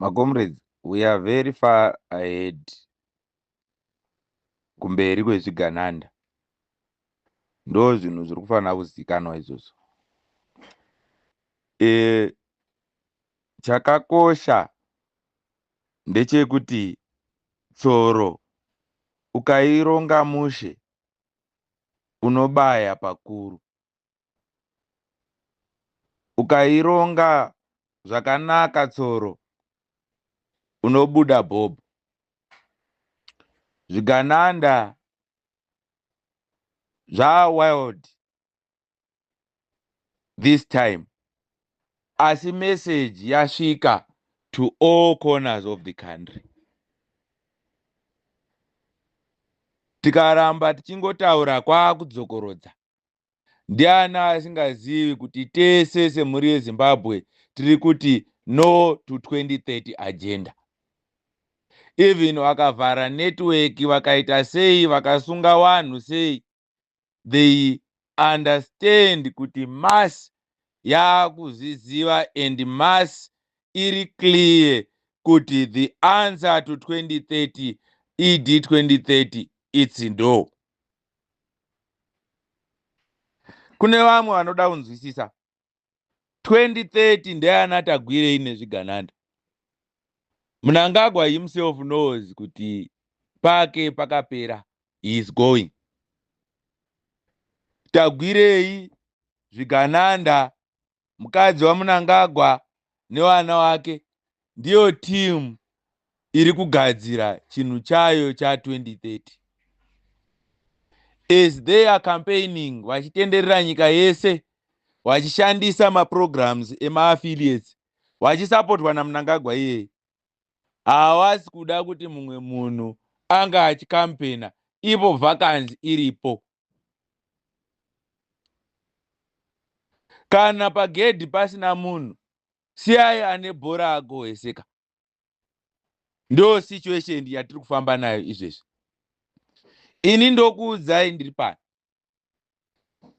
Macomrades we are very far ahead kumberi kwezvigananda ndo zvinhu zviri kufanira kuzikanwa izvozvo e, chakakosha ndechekuti tsoro ukaironga mushe unobaya pakuru ukaironga zvakanaka tsoro unobuda bob zvigananda zvawild this time asi message yasvika to all corners of the country tikaramba tichingotaura kwaakudzokorodza ndiani asingazivi kuti tese semhuri yezimbabwe tiri kuti no to 2030 agenda even vakavhara network vakaita sei vakasunga vanhu sei they understand kuti mass yakuzviziva and mass iri clear kuti the answer to 2030 ed 2030 its ndo kune vamwe vanoda kunzwisisa 2030 ndeyana tagwirei nezvigananda munangagwa himself knows kuti pake pakapera he is going tagwirei zvigananda mukadzi wamunangagwa nevana wake ndiyo team iri kugadzira chinhu chayo cha 2030 as they are campaigning vachitenderera nyika yese vachishandisa maprograms emaaffiliates vachisapotwa namunangagwa iyeye havasi kuda kuti mumwe munhu anga achikampena ivo vakanzi iripo kana pagedhi pasina munhu siyai ane bhora agohweseka ndo situation yatiri kufamba nayo izvezvi ini ndokuudzai ndiri pano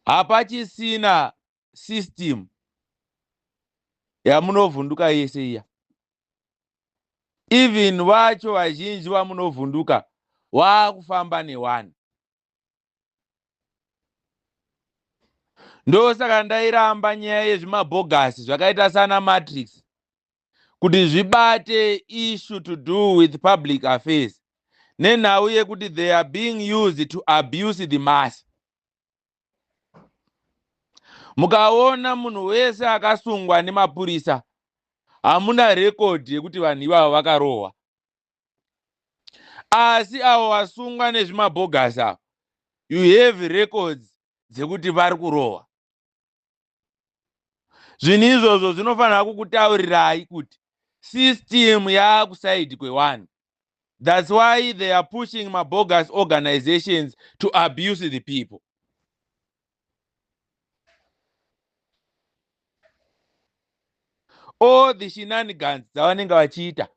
hapachisina system yamunovhunduka yese iya even vacho vazhinji vamunovhunduka waakufamba newani ndosaka ndairamba nyaya yezvimabhogasi zvakaita sana matrix kuti zvibate issue to do with public affairs nenhau yekuti they are being used to abuse the mass mukaona munhu wese akasungwa nemapurisa hamuna rekodhi yekuti vanhu ivavo vakarohwa asi avo vasungwa nezvimabhogasi avo you have records dzekuti vari kurohwa zvinhu izvozvo zvinofanira kukutaurirai kuti system yaakusaidi kwewani thats why they are pushing mabogus organizations to abuse the people all the shenanigans dzavanenge vachiita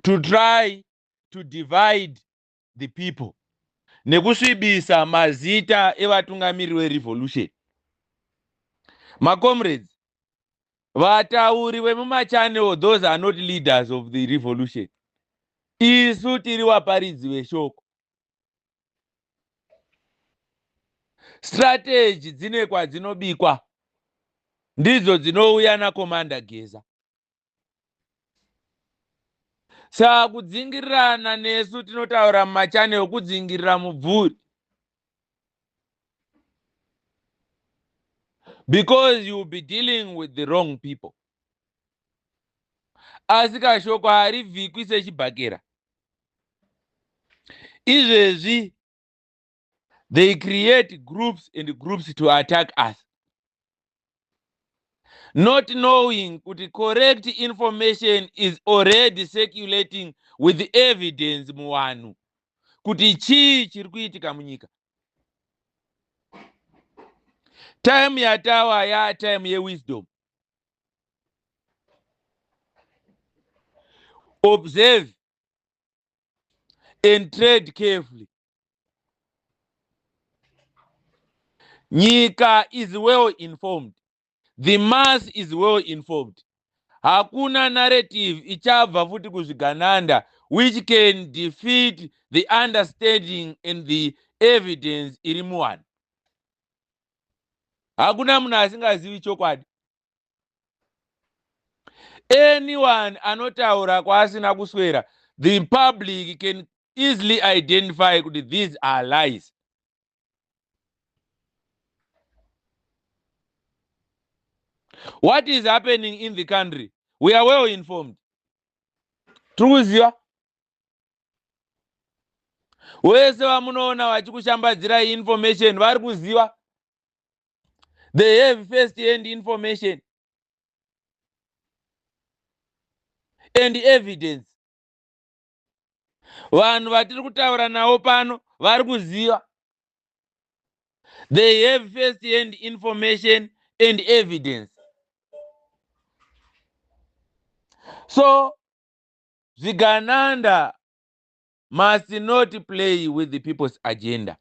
to try to divide the people nekusvibisa mazita evatungamiriri verevolution macomrades vatauri vemumachanel those are not leaders of the revolution isu tiri vaparidzi veshoko strategy dzine kwadzinobikwa ndidzo dzinouya nakomanda geza saka kudzingirirana nesu tinotaura mumachanel kudzingirira mubvuri because you will be dealing with the wrong people asi kashoko harivhikwi sechibhakera izvezvi they create groups and groups to attack us not knowing kuti correct information is already circulating with evidence muvanhu kuti chii chiri kuitika munyika time yatawa ya time yewisdom observe and trade carefully nyika is well informed the mass is well informed hakuna narrative ichabva futi kuzvigananda which can defeat the understanding and the evidence iri muwanhu hakuna munhu asingazivi chokwadi anyone anotaura kwaasina kuswera the public can easily identify kuti these are lies what is happening in the country we are well informed tiri kuziva wese vamunoona vachikushambadzirai information vari kuziva they have first hand information and evidence vanhu vatiri kutaura navo pano vari kuziva they have first hand information and evidence so zvigananda must not play with the people's agenda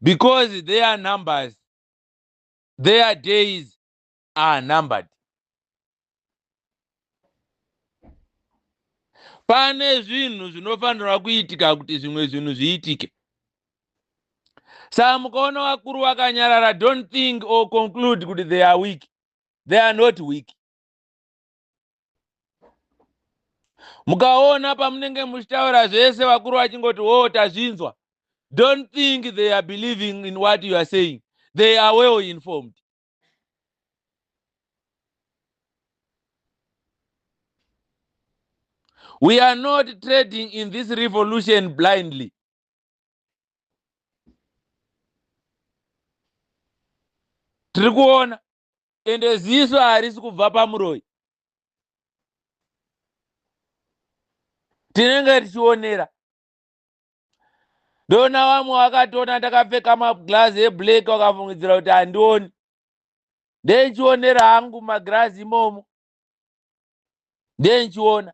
because their numbers their days are numbered pane zvinhu zvinofanirwa kuitika kuti zvimwe zvinhu zviitike saa mukaona vakuru vakanyarara don't think or conclude kuti they are weak they are not weak mukaona pamunenge muchitaura zvese vakuru vachingoti wo oh, tazvinzwa don't think they are believing in what you are saying they are well informed we are not trading in this revolution blindly tiri kuona ende ziso harisi kubva pamuroyi tinenge tichionera ndona vamwe vakatona ndakapfeka maglazi eblack vakafungidzira kuti handioni ndenchionera hangu magirazi imomo ndenchiona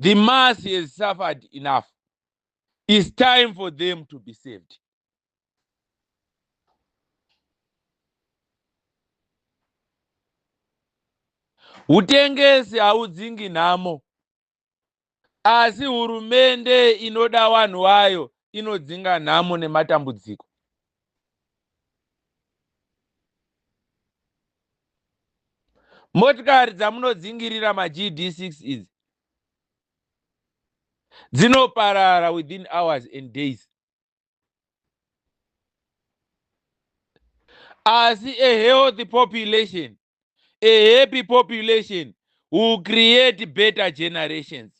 the mass has suffered enough its time for them to be saved utengesi haudzingi nhamo asi hurumende inoda vanhu vayo inodzinga nhamo nematambudziko Motikari dzamunodzingirira maGD6 idzi dzinoparara within hours and days. Asi a healthy population a happy population will create better generations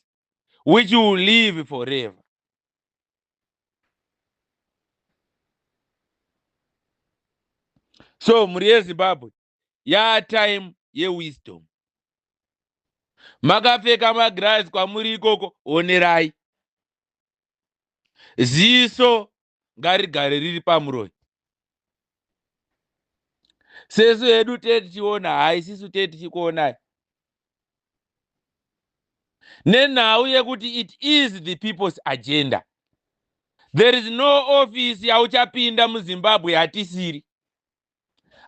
which will live forever so mhuri yezimbabwe yatime yewisdom makapfeka magirazi kwamuri ikoko onerai ziso ngarigare riri pamuroyi sesu hedu tee tichiona haisisu tee tichikuonai nenhau yekuti it is the people's agenda there is no office yauchapinda muzimbabwe hatisiri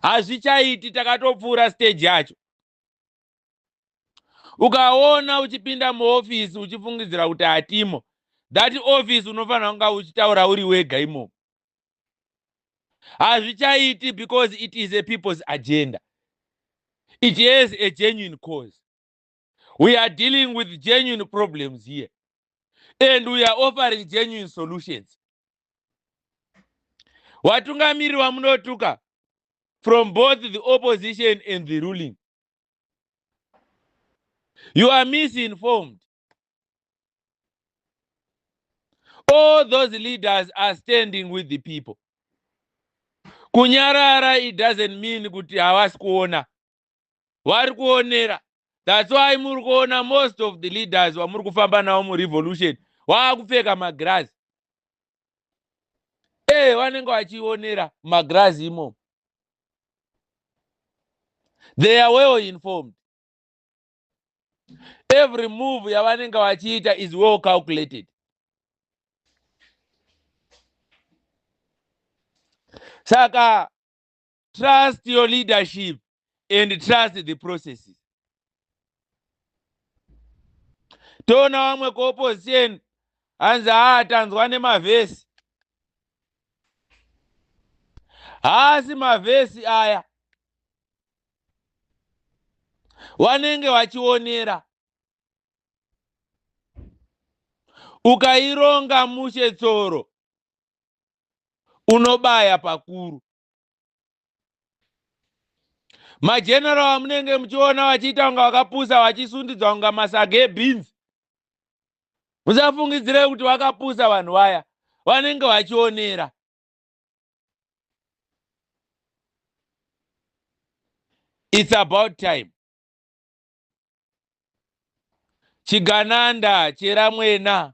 hazvichaiti takatopfuura stage yacho ukaona uchipinda muofisi uchifungidzira kuti hatimo that office unofanira kunga uchitaura uri wega imomo hazvichaiti because it is a people's agenda it has a genuine cause we are dealing with genuine problems here and we are offering genuine solutions watungamiri wamunotuka from both the opposition and the ruling you are misinformed all those leaders are standing with the people kunyarara it doesn't mean kuti havasi kuona vari kuonera that's why muri kuona most of the leaders vamuri kufamba navo murevolution waakupfeka magirazi ee vanenge vachionera magirazi imomo they are well informed every move yavanenge vachiita is well calculated saka trust your leadership and trust the processes toona vamwe kuopposition hanzi haa tanzwa nemavhesi haasi mavhesi aya wanenge wachionera ukaironga mushe tsoro unobaya pakuru majenero amunenge muchiona vachiita kunga vakapusa vachisundidzwa kunga masaga ebeans musafungidzire kuti vakapusa vanhu vaya vanenge vachionera its about time chigananda cheramwena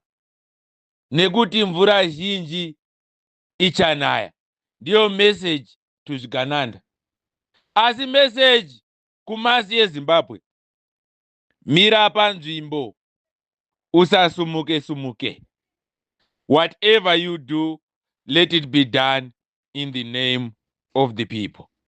nekuti mvura zhinji ichanaya ndiyo meseji to zvigananda asi meseji kumasi yezimbabwe mira panzvimbo usasumuke sumuke whatever you do let it be done in the name of the people